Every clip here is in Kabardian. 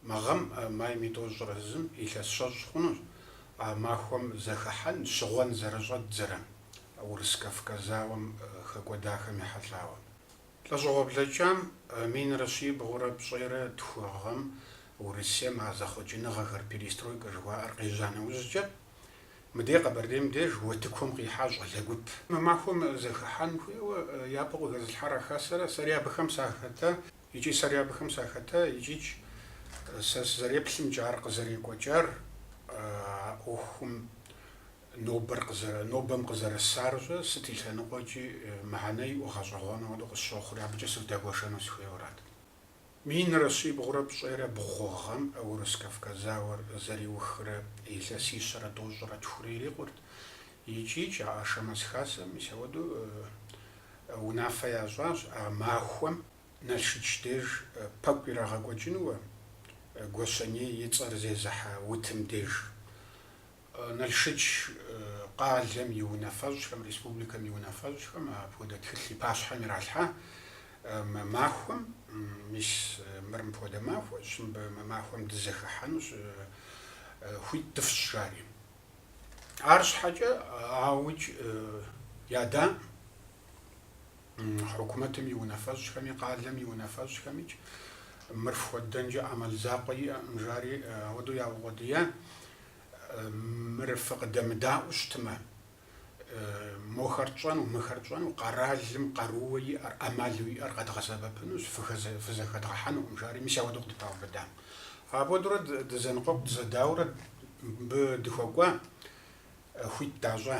Мы гъэм майм и тӏощӏрэ зым илъэс щэщӏ хъунущ а махуэм зэхыхьэн щыгъуэн зэрыщӏэддзэрэ Урыс Кавказ зауэм хэкӏуэдахэм ехьэлӏауэ. Лӏэщӏыгъуэ блэкӏам минрэ щибгъурэ пщӏейрэ тху гъэм Урысейм а зэхъуэкӏыныгъэхэр, перестройкэ жыхуаӏэр къежьа нэужькӏэ, мыдей Къэбэрдейм деж утыкум къихьа щӏалэ гуп. Мы махуэм зэхыхьэн хуейуэ япэу къыхэзылъхьар а хасэра сэри абыхэм сахэта. Икӏи сэри абыхэм сахэта, икӏикӏ сэ сызэреплъымкӏэ, ар къызэрекӏуэкӏар, а ӏуэхум нобэр къызэрэ, нобэм къызэрысарщӏэ, сыт и лъэныкъуэкӏи мыхьэнэ иӏэу гъэщӏэгъуэну хуэдэу къысщохъури, абыкӏэ сывдэгуэшэну сыхуейуэрат. Минрэ щибгъурэ пщӏейрэ бгъу гъэм Урыс Кавказ зауэр зэриухрэ илъэсищэрэ тӏощӏрэ тхурэ ирикъурт, икӏикӏ а Ашэмэз хасэм мис ауэдэу Унафэ ящӏащ а махуэм Налшыч деж пэкӏу ирагъэкӏуэкӏынуэ Гуащэней и цӏэр зезыхьэ утым деж. Налшыч къалэм и унафэщӏхэм, республикэм и унафэщӏхэм апхуэдэ тхылъ и пащхьэм иралъхьа мы махуэм. Мис мыр мыпхуэдэ махуэщ, мыбы мы махуэм дызэхыхьэнущ, хуит дыфщӏ, жари. Арщхьэкӏэ ауикӏ ядакъым хьукумэтым и унафэщӏхэми, къалэм и унафэщӏхэмикӏ мыр фхуэддэнкӏэ ӏэмал закъуэ иӏэкъым, жари ауэдэу яукъуэдия. Мыр фыкъыдэмыдаӏуэу щытымэ, мохэр тщӏэну, мыхэр тщӏэну къэралым къарууэ иӏэр, ӏэмалу иӏэр къэдгъэсэбэпынущ, фызэхэдгъэхьэнукъым, жари мис ауэдэу къыдыпаубыдам. Апхуэдэурэ дызэныкъуэкъу дызэдаурэ мыбы дыхуэкӏуа хуит дащӏа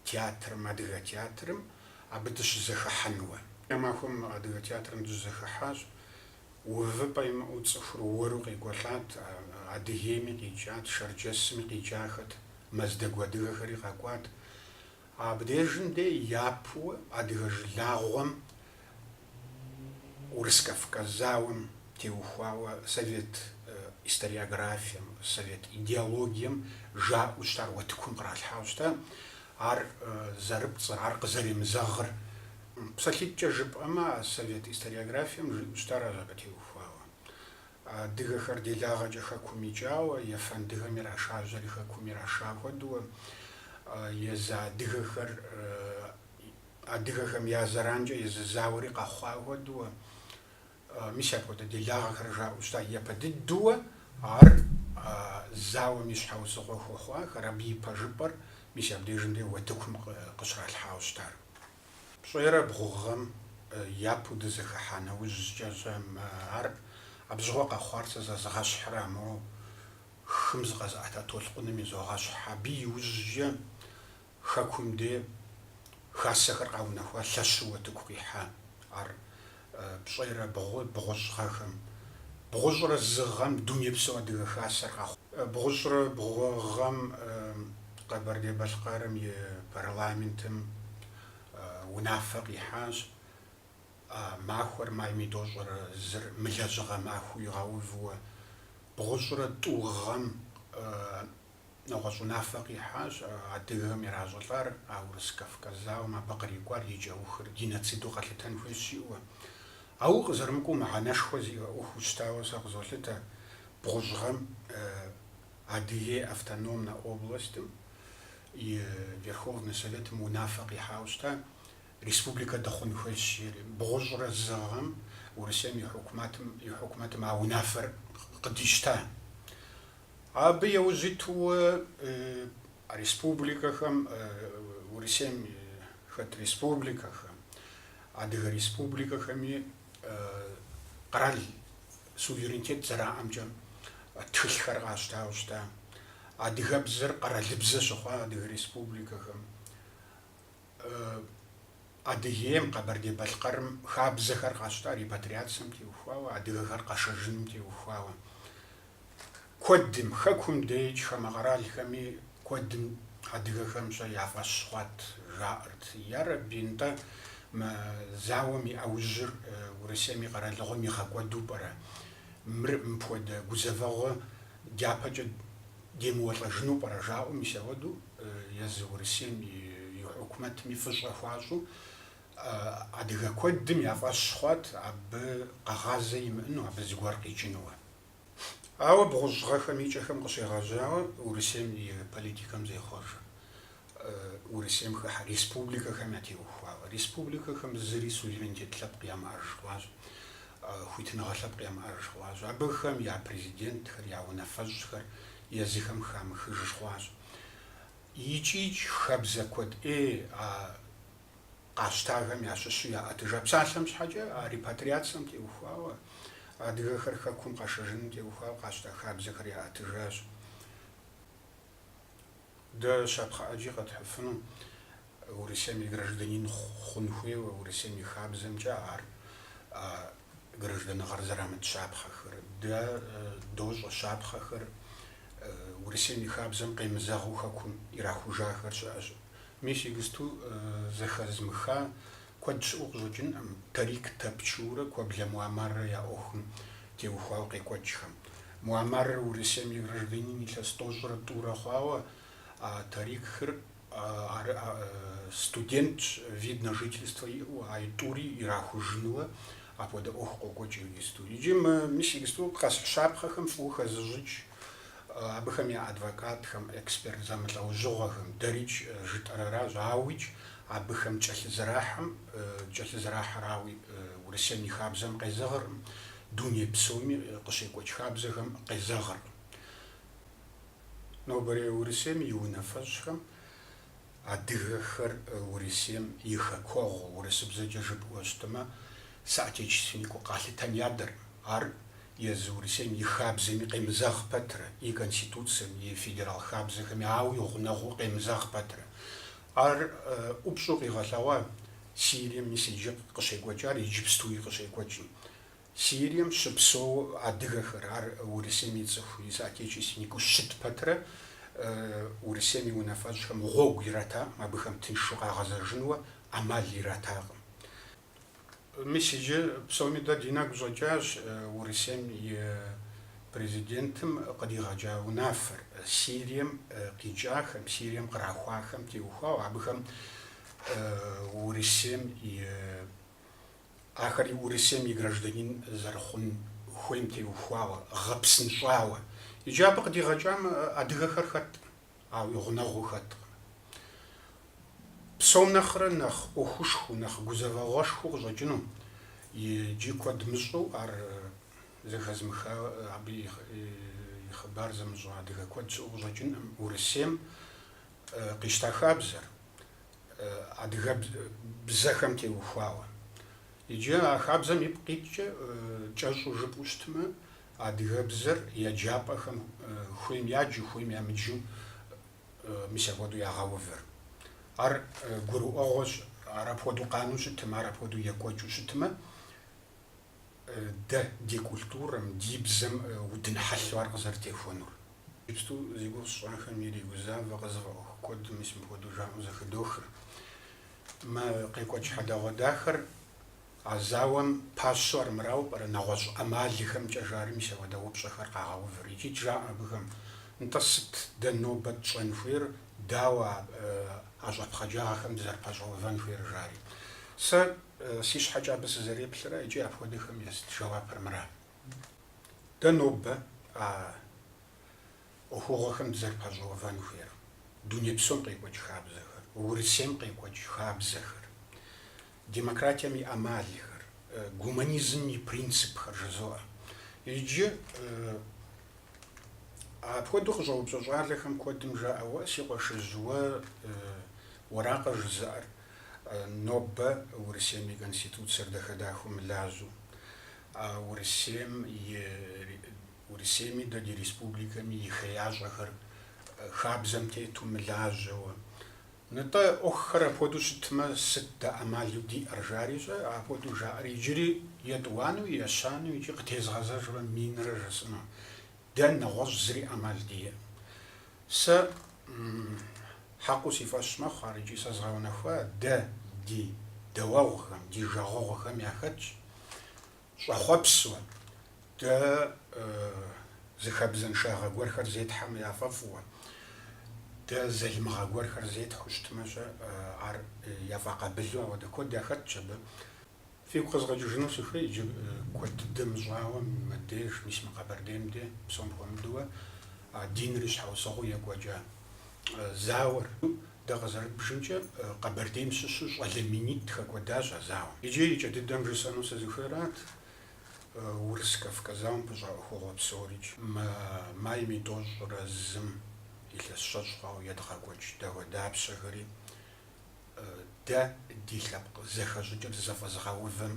театрым, адыгэ театрым абы дыщызэхыхьэнуэ. А махуэм адыгэ театрым дыщызэхыхьащ, увыпӏэ имыӏэу цӏыхур уэру къекӏуэлӏат, Адыгейми къикӏат, Шэрджэсми къикӏахэт, Мэздэгу адыгэхэри къэкӏуат. Абдежым де япэуэ адыгэ жылагъуэм Урыс-Кавказ зауэм теухуауэ совет историографием, совет идеологием жаӏэу щытар уэтыкум къралъхьауэ щыта, ар зэрыпцӏыр, ар къызэремызэгъыр. Псалъитӏкӏэ жыпӏэмэ, совет историографием жиӏэу щытар ар жакъытеухуауэ. Адыгэхэр делагъэкӏэ хэкум икӏауэ, ефэндыхэм ирашажьэри хэкум ираша хуэдэуэ, езы адыгэхэр адыгэхэм я зэранкӏэ езы зауэри къэхъуа хуэдэуэ, мис апхуэдэ делагъэхэр жаӏэу щыта. Япэ дыдэуэ ар зауэм и щхьэусыгъуэ хуэхъуахэр, абы и пэжыпӏэр мис абдежым де уэтыкум къыщралъхьауэ щытар. Пщӏейрэ бгъу гъэм япэу дызэхыхьа нэужькӏэщ мы ар абы щыгъуэ къэхъуар сэ зэзгъэщхьрэ а мо хым зыкъэзыӏэта толъкъуным изогъэщхь, абы иужькӏэ хэкум де хасэхэр къаунэхуа лъэщу утыку къихьа ар. пщӏейрэ бгъу, бгъущӏ гъэхэм. Бгъущӏрэ зы гъэм Дунейпсо Адыгэ Хасэр къэхъуа. Бгъущӏрэ бгъу гъэм Къэбэрдей-Балъкъэрым и парламентым унафэ къихьащ. А махуэр майм и тӏощӏрэ зыр мылэжьыгъэ махуэу игъэувуэ. Бгъущӏрэ тӏу гъэм. нэгъуэщӏ унафэ къихьащ, адыгэхэм иращӏылӏар а Урыс-Кавказ зауэм абы кърикӏуар и кӏэухыр геноциду къэлъытэн хуейщ жиӏэуэ. Ауэ къызэрымыкӏуэу мыхьэнэшхуэ зиӏэ ӏуэхуу щытауэ сэ къызолъытэ бгъущӏ гъэм Адыгей автономнэ областым и Верховнэ Советым унафэ къихьауэ щыта, республикэ дыхъун хуейщ жери. Бгъущӏрэ зы гъэм Урысейм и хьукумэтым а унафэр къыдищта. Абы яужь итууэ республикэхэм, Урысейм хэт республикэхэм, Адыгэ республикэхэми къэрал суверенитет зэраӏэмкӏэ тхылъхэр къащтауэ щыта. Адыгэбзэр къэралыбзэ щыхъуа адыгэ республикэхэм. Адыгейм, Къэбэрдей-Балъкъэрым хабзэхэр къащта репатриацием теухуауэ, адыгэхэр къэшэжыным теухуауэ. куэдым, хэкум деикӏ хамэ къэралхэми куэдым адыгэхэмкӏэ я фӏэщ хъуат, жаӏэрт, ярэби, нтӏэ, мы зауэм и ӏэужьыр Урысейм и къэралыгъуэм игъэкӏуэду пӏэрэ? Мыр мыпхуэдэ гузэвэгъуэ дяпэкӏэ демыуэлӏэжыну пӏэрэ? жаӏэу мис ауэдэу езы Урысейм и хьукумэтми фӏыщӏэ хуащӏу, адыгэ куэдым я фӏэщ хъуат абы къэгъазэ имыӏэну, абы зыгуэр къикӏынуэ. Ауэ бгъущӏ гъэхэм и кӏэхэм къыщегъэжьауэ Урысейм и политикэм зехъуэжыр, Урысейм хыхьэ республикэхэм ятеухуауэ. Республикэхэм зыри суверенитет лъэпкъ ямыӏэж хъуащ, хуитыныгъэ лъэпкъ ямыӏэж хъуащ. Абыхэм я президентхэр, я унафэщӏхэр езыхэм хамыхыж хъуащ. Икӏикӏ хабзэ куэд ӏей а къащтахэм ящыщу яӏэтыжа псалъэм щхьэкӏэ, а репатриацием теухуауэ, адыгэхэр Хэкум къэшэжыным теухуауэ къащта хабзэхэр яӏэтыжащ. Дэ щапхъэ ӏэджи къэтхьыфыну, Урысейм и гражданин хъун хуейуэ, Урысейм и хабзэмкӏэ ар а гражданыгъэр зэрамыт щапхъэхэр. Дэ дощӏэ щапхъэхэр Урысейм и хабзэм къемызэгъыу Хэкум ирахужахэр щыӏэщ. Мис игысту зэхэзмыха куэд щыӏэу къыщӏэкӏынкъым Тарик Тапчурэ Куэблэ Муамаррэ я ӏуэхум теухуауэ къекӏуэкӏхэм. Муамарр Урысейм и гражданин илъэс тӏощӏрэ тӏурэ хъуауэ, а Тарикыр студентщ, вид на жительство иӏэу, а и тӏури ирахужынуэ апхуэдэ ӏуэху къокӏуэкӏ игысту. Иджы мы Мис игысту къэс щапхъэхэм фӏыуэ хэзыщӏыкӏ абыхэм я адвокатхэм, эксперт зэмылӏэужьыгъуэхэм, дэрикӏ жытӏэр аращ, ауикӏ абыхэм кӏэлъызэрахьэм, кӏэлъызэрахьэр ауи Урысейм и хабзэм къезэгъыркъым, дуней псоми къыщекӏуэкӏ хабзэхэм къезэгъыркъым. Нобэрей Урысейм и унафэщӏхэм Адыгэхэр Урысейм и хэкуэгъу, урысыбзэкӏэ жыпӏэу щытымэ, соотечественникыу къалъытэн ядэркъым. Ар езы Урысейм и хабзэми къемызэгъ пэтрэ, и Конституцэм, и федерал хабзэхэми ауи гъунэгъуу къемызэгъ пэтрэ. Ар ӏупщӏу къигъэлъэгъуа Сирием мис иджы къыщекӏуэкӏар иджыпстуи къыщекӏуэкӏым. Сирием щыпсэу адыгэхэр, ар Урысейм и цӏыху, и соотечественникыу щыт пэтрэ, Урысейм и унафэщӏхэм гъуэгу иратакъым, абыхэм тыншу къагъэзэжынуэ ӏэмал иратакъым. Мис иджы псоми дэ ди нэгу щӏэкӏащ Урысейм и Президентым къыдигъэкӏа унафэр, Сирием къикӏахэм, Сирием кърахуахэм теухуауэ, абыхэм Урысейм и Ахэри Урысейм и гражданин зэрыхъун хуейм теухуауэ, гъэпсынщӏауэ. Иджы абы къыдигъэкӏам адыгэхэр хэткъым, ауи гъунэгъуу хэткъым. Псом нэхърэ нэхъ ӏуэхушхуэу, нэхъ гузэвэгъуэшхуэу къыщӏэкӏыну, иджы куэд мыщӏэу ар зэхэзмыха, абы и хъыбар зымыщӏэ адыгэ куэд щыӏэу къыщӏэкӏынкъым Урысейм къищта хабзэр. адыгэбз бзэхэм теухуауэ. Иджы а хабзэм ипкъ иткӏэ, кӏэщӏу жыпӏэу щытмэ, адыгэбзэр еджапӏэхэм хуейм яджу, хуейм ямыджу мис апхуэдэу ягъэувыр. Ар гурыӏуэгъуэщ, ар апхуэдэу къанэу щытмэ, ар апхуэдэу екӏуэкӏыу щытмэ, Дэ ди культурэм, ди бзэм удын хьэлъэу ар къызэрытехуэнур. Иджыпсту зи гугъу сщӏахэм иригузавэ, къызыфӏэӏуэху куэдым мис мыпхуэдэу жаӏэу зэхыдохыр. Мы къекӏуэкӏ хьэдэгъуэдахэр а зауэм пащэу армырауэ пӏэрэ нэгъуэщӏ ӏэмалыхэмкӏэ жари мис апхуэдэ упщӏэхэр къагъэувыр икӏи жаӏэ абыхэм, Нтӏэ, сыт дэ нобэ тщӏэн хуейр, дауэ а щӏэпхъаджагъэхэм дызэрыпэщӏэувэн хуейр жари. Сэ. Си щхьэкӏэ абы сызэреплъыр икӏи апхуэдэхэм яст жэуапыр мыра. Дэ нобэ а ӏуэхугъуэхэм дызэрыпэщӏэувэн хуейр, дуней псом къекӏуэкӏ хабзэхэр, Урысейм къекӏуэкӏ хабзэхэр, демократием и ӏэмалхэр, гуманизмым и принципхэр жызоӏэ. Иджы апхуэдэу къыщӏэупщӏэ щӏалэхэм куэдым жаӏэ, Уэ, си къуэшыжь, уэ уэракъэ жызыӏэр? Нобэ Урысейм и Конституцэр дахэ-дахэу мылажьэу, Урысейм и, Урысейми дэ ди республикэми и хеящӏэхэр хабзэм тету мылажьэуэ. Нтӏэ, ӏуэхухэр апхуэдэу щытмэ, сыт дэ ӏэмалу диӏэр, жари щӏэ, апхуэдэу жаӏэр иджыри етӏуанэу, ещанэу икӏи къытезгъэзэжурэ минрэ жысӏэну. Дэ нэгъуэщӏ зыри ӏэмал диӏэкъым. Сэ хьэкъыу си фӏэщ мэхъу ар икӏи сэ згъэунэхуа дэ ди дауэгъухэм, ди жагъуэгъухэм яхэтщ щӏэхъуэпсу, дэ зы хабзэншагъэ гуэрхэр зетхьэмэ яфӏэфӏуэ, дэ залымыгъэ гуэрхэр зетхьэу щытмэ-щэ, ар яфӏэкъабылу апхуэдэ куэд яхэтщ абы. Фигу къэзгъэкӏыжыну сыхуей иджы куэд дыдэ мыщӏауэ мыбдеж, мис мы Къэбэрдейм де, псом хуэмыдэуэ, а диныр и щхьэусыгъуэу екӏуэкӏа зауэр. Дэ къызэрыдбжымкӏэ, Къэбэрдейм щыщу щӏалэ минитӏ хэкӏуэдащ а зауэм. Иджы и кӏэ дыдэм жысӏэну сызыхуейрат Урыс-Кавказ зауэм пыщӏа ӏуэхугъуэ псорикӏ, мы майм и тӏощӏрэ зым илъэс щэщӏ хъуауэ едгъэкӏуэкӏ дауэдапщэхэри. Дэ ди лъэпкъ зэхэщӏыкӏыр зэфӏэзыгъэувэм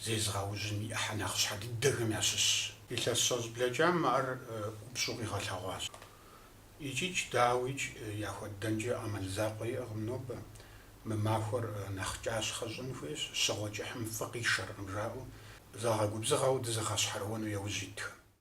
зезыгъэужьын и ӏыхьэ нэхъ щхьэ дыдэхэм ящыщщ. Илъэс щэщӏ блэкӏам ар ӏупщӏу къигъэлъэгъуащ. Икӏикӏ, дауикӏ, яхуэддэнкӏэ ӏэмал закъуэ иӏэкъым нобэ. Мы махуэр нэхъ кӏащхъэ щӏын хуейщ, щыгъуэ кӏыхьым фӏы къишэркъым жаӏэу, загъэгубзыгъэу дызыгъэщхьэрыуэну яужь итхэм.